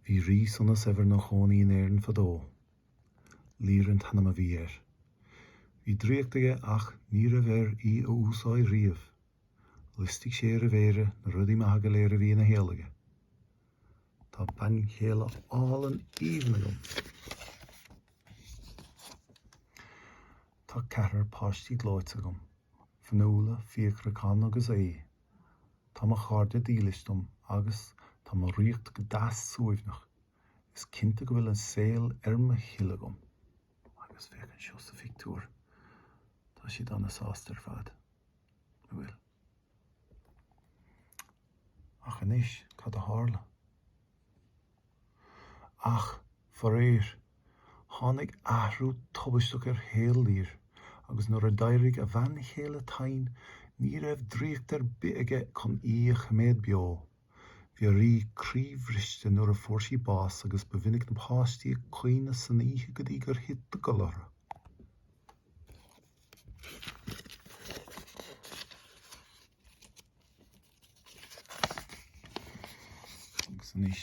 Bhí rí sona saibhir ina chónaí in Éirinn fadó. Lir an t-ainm a bhí air. Bhí draíocht aige ach ní raibh air í a úsáid riamh. Liostaigh sé ar a mhéire na rudaí maithe go léir a bhí ina shaol aige. Tá bean chéile álainn aoibhinn agam. Tá ceathrar páistí gleoite agam, Fionnuala, Fiachra, Con agus Aodh. Tá mo chairde dílis dom agus tá mo ríocht go deas suaimhneach. Is cinnte go bhfuil an saol ar mo thoil agam. Agus féach anseo sa phictiúr. Tá siad an-sásta ar fad, a bhfuil? Ach anois, cad a tharla? Ach, faraoir, tháinig athrú tubaisteach ar shaol Lir agus nuair a d'éirigh a bhean chéile tinn ní raibh draíocht ar bith aige chun í a choimeád beo. Bhí an rí croíbhriste nuair a fuair sí bás agus ba mhinic na páistí ag caoineadh san oíche go dtí gur thit a gcodladh orthu. Agus anois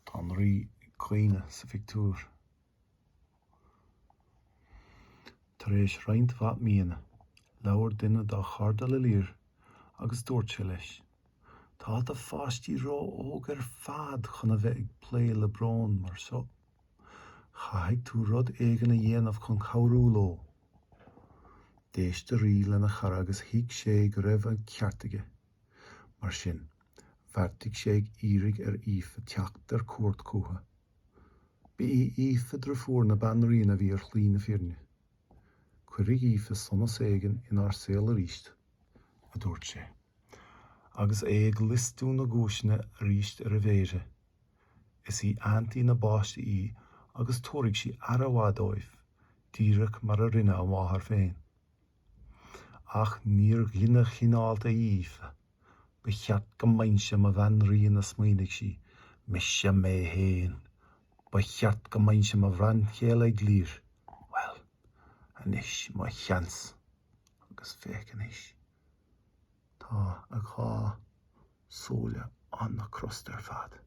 tá an rí ag caoineadh sa phictiúr tar éis roinnt mhaith míonna, labhair duine dá chairde le Lir agus dúirt sé leis, Tá do pháistí ró-óg ar fad chun a bheith ag plé le brón mar seo. Caithfidh tú rud éigin a dhéanamh chun cabhrú leo. D'éist an rí lena chara agus thuig sé go raibh an ceart aige. Mar sin, bheartaigh sé iarraidh ar Aoife teacht ar cuairt chucu. Ba í Aoife deirfiúr na banríona a bhí ar shlí na fírinne. Cuirfidh Aoife sonas éigin inár saol arís, a dúirt sé, agus é ag liostú na gcúiseanna arís ar a mhéire. Is í aintín na bpáistí í agus tabharfaidh sí aire mhaith dóibh, díreach mar a rinne a máthair féin. Ach níor dhuine chineálta í Aoife. 'Ba cheart go mbeinnse i mo bhanríon, a smaoinigh sí. 'Mise mé féin. Ba cheart go mbeinnse i mo bhean chéile ag Lir. Bhuel, anois mo sheans. Agus féach anois. Tá a dhá súil an-crosta ar fad.